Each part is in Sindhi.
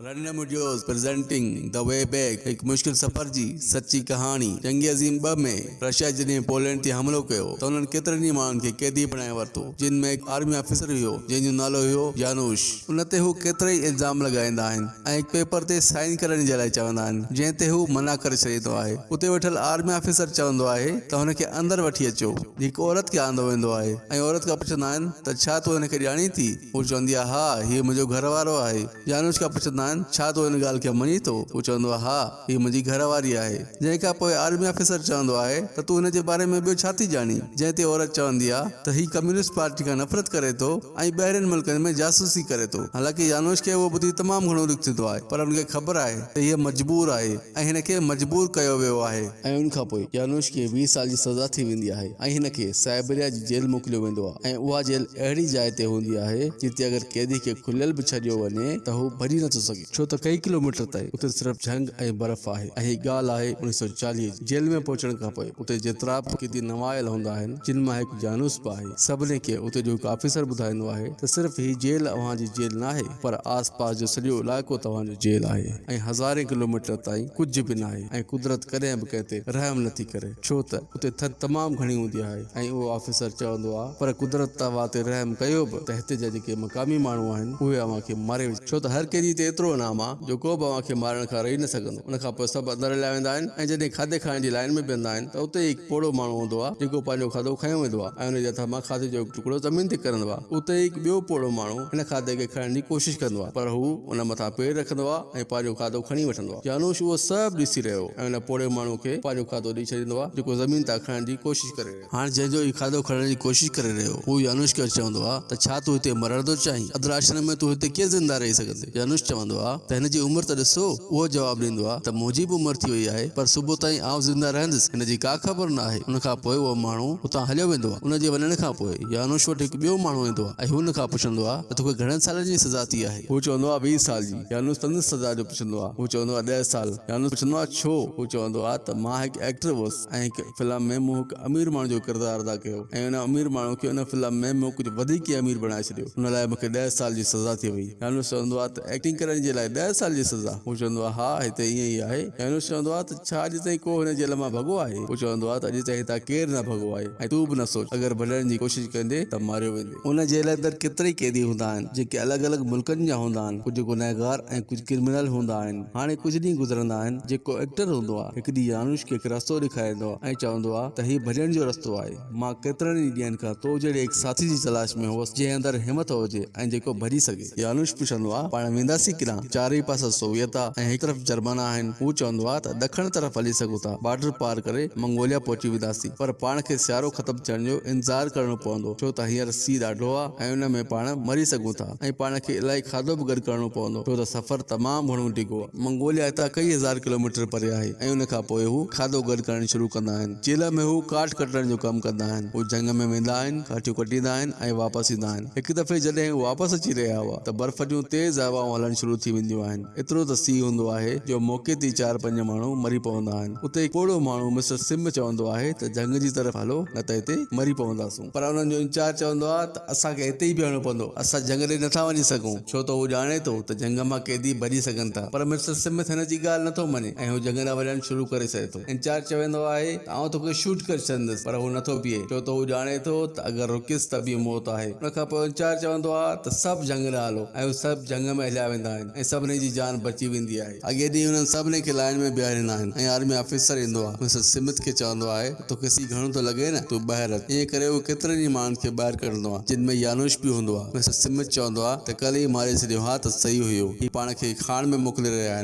رنڊ مڊيوز پريزنٽنگ دي وي بيڪ هڪ مشڪل سفر جي سچي ڪهاڻي جنگ عظيم ٻه ۾ رشيا جڏهن پولينڊ تي حملو ڪيو ته انهن ڪيترن ئي ماڻهن کي قيدي بڻائي ورتو جن ۾ هڪ آرمي آفيسر هيو جنهن جو نالو هيو يانوش ان تي هو ڪيترائي الزام لڳائيندا آهن ۽ هڪ پيپر تي سائين ڪرڻ جي لاء چوندا آهن جنهن تي هو منع ڪري ڇڏيندو آهي اتي ويٺل آرمي آفيسر چوندو آهي ته هن کي اندر وٺي اچو هڪ عورت کي آندو ويندو آهي ۽ عورت کان پڇندا آهن ته ڇا تون هن کي ڄاڻين ٿي هو چوندي آهي ها هيء منهنجو گهر وارو آهي. يانوش کان پڇندا آهن، ڇا تون ان ڳالهه کي مڃين ٿو؟ هو چوندو آهي، ها، هيء منهنجي گهر واري آهي. جنهن کان پوء آرمي آفيسر چوندو آهي ته تون هن جي باري ۾ ٻيو ڇا ٿي ڄاڻين؟ جنهن تي عورت چوندي آهي ته هي ڪميونسٽ پارٽي کان نفرت ڪري ٿو ۽ ٻاهرين ملڪن ۾ جاسوسي ڪري ٿو. حالانڪه يانوش کي اهو ٻڌي تمام گهڻو ڏک ٿيندو آهي، پر هن کي خبر آهي ته هيء مجبور آهي. ۽ هن کي مجبور ڪيو ويو آهي. ۽ ان کان پوء يانوش کي ويهه سال جي سزا ٿي ويندي آهي ۽ هن کي سائبريا جي جيل موڪليو ويندو آهي ۽ اها جيل اهڙي جاء تي هوندي آهي جتي اگر قيدي کي کليل به ڇڏيو وڃي ته هو ڀڄي نٿو سگهي ڇو ته ڪئين ڪلو ميٽر تائين اتي صرف جهنگ ۽ برف آهي ۽ هي ڳالهه آهي اڻيهه سؤ چاليهه جي جيل ۾ پهچڻ کان پوء اتي جيترا به قيدي نوايل هوندا آهن جن مان هڪ يانوس به آهي. سڀني کي اتي جو هڪ آفيسر ٻڌائيندو آهي ته صرف هي جيل اوهان جي جيل ناهي پر آس پاس جو سڄو علائقو توهان جو جيل آهي ۽ هزارين ڪلوميٽر تائين ڪجهه به ناهي ۽ قدرت ڪڏهن به ڪنهن تي رحم نه ٿي ڪري ڇو ته اتي ٿڌ تمام گهڻي هوندي آهي ۽ اهو آفيسر چوندو آ پر قدرت ته اوهان تي رحم ڪيو به ته هتي جا جيڪي مقامي ماڻهو آهن اهي اوهان کي ماري وجهندا ڇو ته هر ڪنهن جي هتي ايترو انعام آ جو ڪو به اوهان کي مارڻ کان رهي نه سگهندو. ان کان پوء سڀ اندر هليا ويندا آهن ۽ جڏهن کاڌي کائڻ جي لائين ۾ بيهندا آهن ته اتي ئي هڪ پوڙهو ماڻهو هوندو آهي جيڪو پنهنجو کاڌو کنيو ويندو آهي ۽ ان جي هٿ مان کاڌي جو هڪ ٽڪرو زمين تي ڪرندو آهي اتي ئي هڪ ٻيو پوڙهو ماڻهو هن کاڌي کي کائڻ جي ڪوشش ڪندو آهي پر هو ان مٿان پير رکندو آهي ۽ پنهنجو کاڌو کڻي وٺندو آهي جانوش اهو سڀ ڏسي رهيو هو ۽ ان پوڙهي ماڻهو کي پنهنجو کاڌو ڏئي ڇڏيندو آهي جيڪو زمين تان کائڻ جي ڪوشش ڪري رهيو هاڻ جنهن جو هي کاڌو کڻڻ جي ڪوشش ڪري رهيو هو يانوش کي چوندو آ ته ڇا تون هتي مرڻ ٿو چاهين؟ ادراشرم ۾ تون هتي ڪيئن زنده رهي سگهندين؟ يانوش چوندو آ ته هن جي عمر ته ڏسو. اهو جواب ڏيندو آ ته منهنجي به عمر ٿي وئي آهي پر صبح تائين آئون زنده رهندس هن جي ڪا خبر نه آهي. ان کان پوء اهو ماڻهو اتان هليو ويندو آ. ان جي وڃڻ کان پوء يانوش وٽ هڪ ٻيو ماڻهو ايندو آ ۽ هو هن کان پڇندو آ ته توکي گهڻن سالن جي سزا ٿي آهي؟ هو چوندو آ ويهه سال جي. يانوش سندس سزا جو پڇندو آ. هو چوندو آ ڏهه سال. يانوش پڇندو آ ڇو؟ هو چوندو آ ته مان هڪ ايڪٽر هوس. ۽ هڪ فلم ۾ مون هڪ امير ماڻهو جو ڪردار ادا ڪيو ۽ ان امير ماڻهو کي ان فلم ۾ مون ڪجهه وڌيڪ ئي امير بڻائي ڇڏيو ان لاء مون کي ڏهه سال جي سزا ٿي وئي يانوس چوندو آهي ته ايڪٽنگ ڪرڻ جي لاء ڏهه سال جي سزا هو چوندو آهي ها هتي ائين ئي آهي يانوس چوندو آهي ته ڇا اڄ تائين ڪو هن جيل مان ڀڳو آهي هو چوندو آهي ته اڄ تائين هتان ڪير نه ڀڳو آهي ۽ تون به نه سوچ اگر ڀڄڻ جي ڪوشش ڪندين ته ماريو ويندين. ان جيل اندر ڪيترائي قيدي هوندا آهن، جيڪي الڳ الڳ ملڪن جا هوندا آهن. ڪجهه گنهگار ۽ ڪجهه ڪرمنل هوندا آهن. هاڻي ڪجهه ڏينهن گذرندا آهن. جيڪو ايڪٽر هوندو آهي. هڪ ڏينهن يانوش کي هڪ رستو ڏيکاريندو آهي ۽ چوندو آهي ته هي ڀڄڻ جو رستو آهي. مان ڪيترن ئي ڏينهن کان تو جهڙي هڪ ساٿي جي تلاش ۾ هوس، جنهن اندر همٿ هجي ۽ جيڪو ڀڄي سگهي. يانوش پڇندو آ، پاڻ وينداسين ڪيڏانهن؟ چارئي پاسا سوويت آ ۽ هڪ طرف جرمانا آهن. هو چوندو آ ته ڏکڻ طرف هلي سگهون ٿا، بارڊر پار ڪري منگوليا پهچي وينداسين. پر پاڻ کي سيارو ختم ٿيڻ جو انتظار ڪرڻو پوندو، ڇو ته هينئر سي ڏاڍو آ ۽ ان ۾ پاڻ مري سگهون ٿا ۽ پاڻ کي الائي کاڌو به گڏ ڪرڻو پوندو، ڇو ته سفر تمام گهڻو ڊگهو آ. منگوليا هتان ڪيئي هزار ڪلوميٽر پري آهي ۽ ان کان پوء هو کاڌو گڏ ڪرڻ شروع ڪندا آهن. چيلهه ۾ هو ڪاٺ ڪٽڻ جو ڪم ڪندا آهن. هو جهنگ ۾ ويندا آهن، ڪاٺيون ڪٽيندا آهن ۽ واپس ايندا آهن. هڪ دفعي جڏهن هو واپس اچي رهيا هئا ته برف جون تيز هوائون هلڻ شروع ٿي وينديون آهن. ايترو ته سيء هوندو آهي جو موقعي تي ئي چار پنج ماڻهو مري پوندا آهن. اتي هڪ پوڙهو ماڻهو مسٽر سم چوندو آهي ته جهنگ جي طرف هلو نه ته هتي مري پونداسون. پر انهن جو انچارج چوندو آهي ته اسان کي هتي ئي بيهڻو پوندو. اسان جهنگ ڏي نٿا وڃي سگهون ڇو ته هو ڄاڻي ٿو ته جهنگ مان قيدي ڀڄي سگهن ٿا. پر مسٽر سمٿ هن جي ڳالهه نٿو مڃي ۽ هو جهنگ ڏانهن وڃڻ شروع ڪري ڇڏي ٿو. انچارج چوندو آهي ته آئون توکي شوٽ ڪري ڇڏندس پر هو نٿو بيهي ڇو ته هو ڄاڻي ٿو ته اگر رڪيس ته به موت آهي. ان کان پوء انچارج چوندو آهي ته سڀ جهنگ ڏانهن هلو ۽ هو سڀ جهنگ ۾ هليا ويندا آهن ۽ سڀني جي جان بچي ويندي آهي. اڳئي ڏينهن انهن سڀني کي لائين ۾ بيهاريندا آهن ۽ آرمي آفيسر ايندو آهي مسز سمٿ کي چوندو آهي ته توکي سي گهڻو ٿو لڳي نه تون ٻاهر اچ ائين ڪري هو ڪيترن ئي ماڻهن کي ٻاهر ڪڍندو آهي جن ۾ يانوش به هوندو آهي مسز سمٿ چوندو آهي ته ڪلهه ئي ماري ڇڏيو ها ته سهي هيو هي پاڻ کي کاڻ ۾ موڪلي رهيا آهن.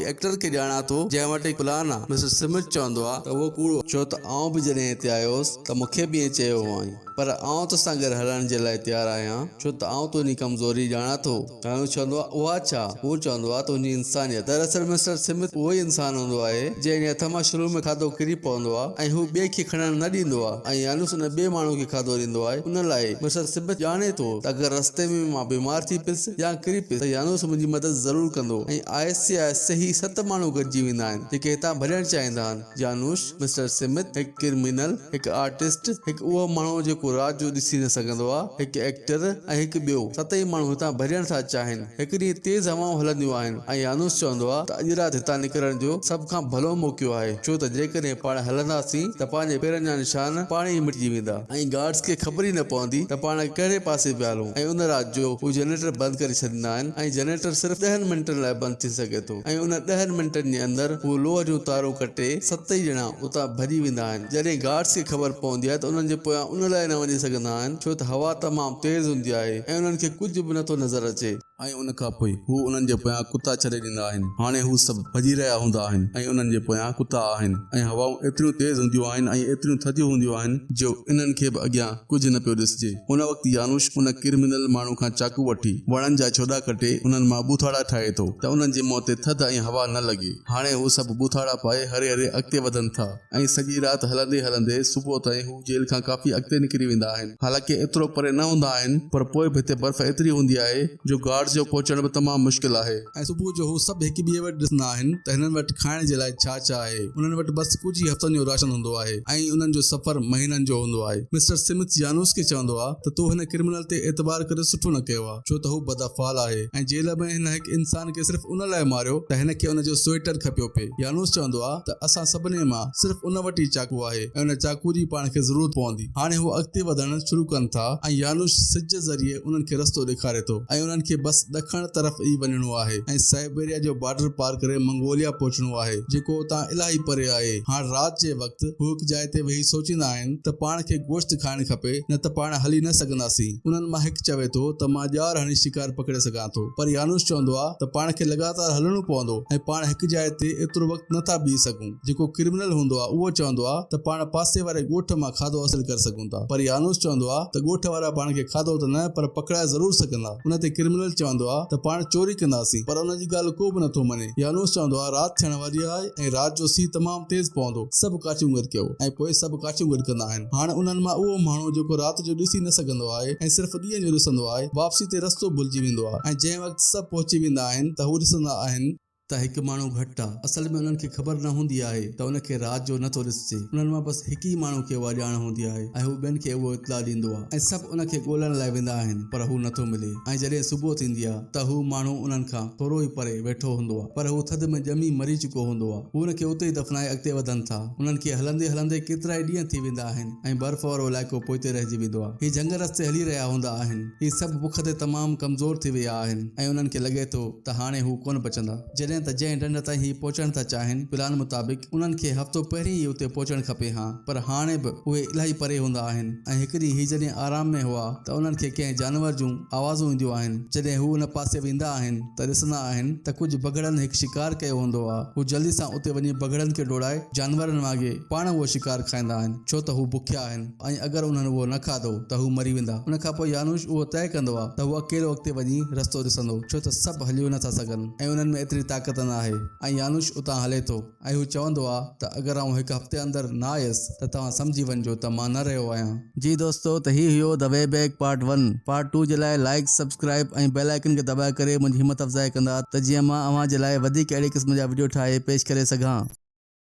ايڪٽر کي ڄاڻان ٿو، جنهن وٽ هڪ پلان آ. مسٽر سمٿ چوندو آ ته اهو ڪوڙ آ، ڇو ته آئون به جڏهن هتي آيو هوس ته مون کي به ائين چيو هئائين، پر آئون تو سان گڏ هلڻ جي لاء تيار آهيان، ڇو ته آئون تنهنجي ڪمزوري ڄاڻان ٿو. هيون چوندو آ، اها ڇا؟ هو چوندو آ، تنهنجي انسانيت. دراصل مسٽر سمٿ اهو ئي انسان هوندو آهي، جنهن جي هٿ مان شروع ۾ کاڌو ڪري پوندو آ ۽ هو ٻئي کي کڻڻ نه ڏيندو آ ۽ يانوس ان ٻئي ماڻهو کي کاڌو ڏيندو آهي. ان لاء مسٽر سمٿ ڄاڻي ٿو ته اگر رستي ۾ مان بيمار ٿي پيس، يا ڪري پيس ته يانوس منهنجي مدد ضرور ڪندو ۽ آهستي آهستي هي ست ماڻهو گڏجي ويندا آهن جيڪي هتان ڀڄڻ چاهيندا آهن يانوس، مسٽر سمٿ، هڪ ڪرمينل، هڪ آرٽسٽ، هڪ اهو ماڻهو جيڪو رات جو ڏسي نه سگهندو آهي، هڪ ايڪٽر ۽ هڪ ٻيو. ستئي ماڻهو هتان ڀڄڻ ٿا چاهين. هڪ ڏينهن تيز هوائون هلنديون آهن ۽ يانوس چوندو آهي ته اڄ رات هتان نڪرڻ جو سڀ کان ڀلو موقعو آهي ڇو ته جيڪڏهن پاڻ هلنداسين ته پنهنجي پيرن جا نشان پاڻ ئي مٽجي ويندا. ۽ گارڊز کي خبر ئي نه پوندي ته پاڻ ڪهڙي پاسي پيا هلون ۽ ان رات جو هو جنريٽر بند ڪري ڇڏيندا آهن ۽ جنريٽر صرف ڏهن منٽن لاء بند ٿي سگهي ٿو ۽ انهن ڏهن منٽن جي اندر هو لوهه جون تارون ڪٽي ستئي ڄڻا اتان ڀڄي ويندا آهن جڏهن گارڊز کي خبر پوندي آهي ته انهن جي پويان ان لاء نه وڃي سگهندا آهن ڇو ته هوا تمام تيز هوندي آهي ۽ انهن کي ڪجهه به نٿو نظر اچي. ۽ ان کان پوء هو انهن جي پويان ڪتا ڇڏي ڏيندا آهن، هاڻي هو سڀ ڀڄي رهيا هوندا آهن ۽ انهن جي پويان ڪتا آهن، ۽ هوائون ايتريون تيز هونديون آهن ۽ ايتريون ٿڌيون هونديون آهن جو انهن کي به اڳيان ڪجهه نه پيو ڏسجي. ان وقت يانوش ان ڪرمنل ماڻهو کان چاقو وٺي وڻن جا ڇوڏا ڪٽي انهن مان ٻوٿاڙا ٺاهي ٿو ته انهن جي منهن تي ٿڌ ۽ هوا نه لڳي. هاڻي هو سڀ ٻوٿاڙا پائي هري هري اڳتي وڌن ٿا. ائين سڄي رات هلندي هلندي صبح تائين هو جيل کان ڪافي اڳتي نڪري ويندا آهن. حالانڪه ايترو پري نه هوندا آهن پر پوء به هتي برف ايتري هوندي آهي جو گارڊز جو پهچڻ به تمام مشڪل آهي. ۽ صبح جو هو سڀ هڪ ٻئي وٽ ڏسندا آهن ته هنن وٽ ڪھائڻ جي لاء ڇا ڇا آهي. انهن وٽ بس ڪجهه ئي هفتن جو راشن هوندو آهي ۽ انهن جو سفر مهينن جو هوندو آهي. مسٽر سمٿ جانوس کي چوندو آهي ته تو هن ڪرمنل تي اعتبار ڪري سٺو نه ڪيو آهي. ڇو ته هو بدافعال آهي ۽ جيل ۾ هن هڪ انسان کي صرف ان لاء ماريو ته هن کي ان جو سوئيٽر کپيو پئي. يانوس چوندو آهي ته اسان سڀني مان صرف ان وٽ ئي چاقو آهي ۽ ان چاقو جي پاڻ کي ضرورت پوندي. هاڻي هو اڳتي وڌڻ شروع ڪن ٿا ۽ يانوس سج ذريعي انهن کي رستو ڏيکاري ٿو ۽ انهن کي بس ڏکڻ طرف ئي وڃڻو آهي ۽ سائبيريا جو بارڊر پار ڪري منگوليا پهچڻو آهي جيڪو اتان الاهي پري آهي. هاڻ رات جي وقت. وقت هو هڪ جاء تي ويهي سوچيندا آهن ته پاڻ کي گوشت کائڻ کپي نه ته پاڻ هلي نه سگهنداسين. انهن مان هڪ چوي ٿو ته مان ڄار هڻي شڪار پڪڙي سگهان ٿو پر يانوس چوندو آهي ته پاڻ کي لڳاتار هلڻو پوندو ۽ پاڻ هڪ جاء تي ايترو وقت نه ٿا بيهي سگهون. جيڪو ڪرمنل هوندو آهي اهو چوندو آهي ته پاڻ پاسي واري ڳوٺ مان کاڌو حاصل ڪري سگهون ٿا پر يانوس چوندو آهي ته ڳوٺ وارا پاڻ کي کاڌو ته نه پر پڪڙائي ضرور سگهندا. ان تي ڪرمنل چوندو آهي ته پاڻ چوري ڪنداسين پر ان جي ڳالهه ڪو به نه ٿو مڃي. يانوس چوندو آهي، رات ٿيڻ واري آهي ۽ رات جو سيء تمام تيز پوندو. سڀ ڪاٺيون گڏ ڪيو ۽ پوء سڀ ڪاٺيون گڏ ڪندا آهن. هاڻ انهن مان اهو ماڻهو جيڪو رات جو ڏسي نه سگهندو آهي ۽ صرف ڏينهن جو ڏسندو آهي، واپسي تي رستو ڀلجي ويندو آهي ۽ جنهن وقت سڀ پهچي ويندا آهن ته هو ڏسندا آهن، ته هڪ ماڻهو گهٽ آهي، اصل ۾ انهن کي خبر نه هوندي آهي ته ان کي رات جو نه ٿو ڏسجي، انهن مان بس هڪ ئي ماڻهو کي اها ڄاڻ هوندي آهي ۽ هو ٻين کي اهو اطلاع ڏيندو آهي ۽ سڀ ان کي ڳولڻ لاء ويندا آهن پر هو نه ٿو ملي ۽ جڏهن صبح ٿيندي آهي. ته هو ماڻهو انهن کان ٿورو ئي پري ويٺو هوندو آهي پر هو ٿڌ ۾ ڄمي مري چڪو هوندو آهي. هو ان کي اتي ئي دفنائي اڳتي وڌن ٿا. انهن کي هلندي هلندي ڪيترائي ڏينهن ٿي ويندا آهن ۽ برف وارو علائقو پوئتي رهجي ويندو آهي. هي جهنگ رستي هلي رهيا هوندا آهن. هي سڀ بک تي تمام ڪمزور ٿي ويا آهن ۽ انهن کي لڳي ٿو ته هاڻي هو ڪونه بچندا. جڏهن ته جنهن ڍنڍ تائين هي پهچڻ ٿا چاهين، پلان مطابق انهن کي هفتو پهرين ئي اتي پهچڻ کپي ها، پر هاڻي به اهي الاهي پري هوندا آهن ۽ هڪ ڏينهن هي جڏهن آرام ۾ هئا ته انهن کي ڪنهن جانور جون آوازون اينديون آهن. جڏهن هو ان پاسي ويندا آهن ته ڏسندا آهن ته ڪجهه بگهڙن هڪ شڪار ڪيو هوندو آ. هو جلدي سان اتي وڃي بگهڙن کي ڊوڙائي جانورن وانگي پاڻ اهو شڪار کائيندا آهن، ڇو ته هو بکيا آهن. ۽ اگر انهن اهو نه کاڌو ته هو مري ويندا. ان کان پوء يانوش اهو طئي ڪندو آهي ته هو اڪيلو اڳتي وڃي رستو ڏسندو، ڇو ته سڀ هليو نه ٿا سگهن ۽ انهن ۾ ايتري طاقت نه آهي ۽ يانوش اتان هلي ٿو ۽ هو چوندو آهي ته اگر آئون هڪ هفتي اندر نه آيس ته توهان سمجهي وڃجو ته مان نه رهيو آهيان. جي دوستو ته هي هيو The Way Back Part One part two جي لاء لائيڪ سبسڪرائيب ۽ بيل آئيڪن کي دٻائي ڪري منهنجي همت افزائي ڪندا ته جيئن مان اوهان جي لاء وڌيڪ اهڙي قسم جا وڊيو ٺاهي پيش ڪري سگهان.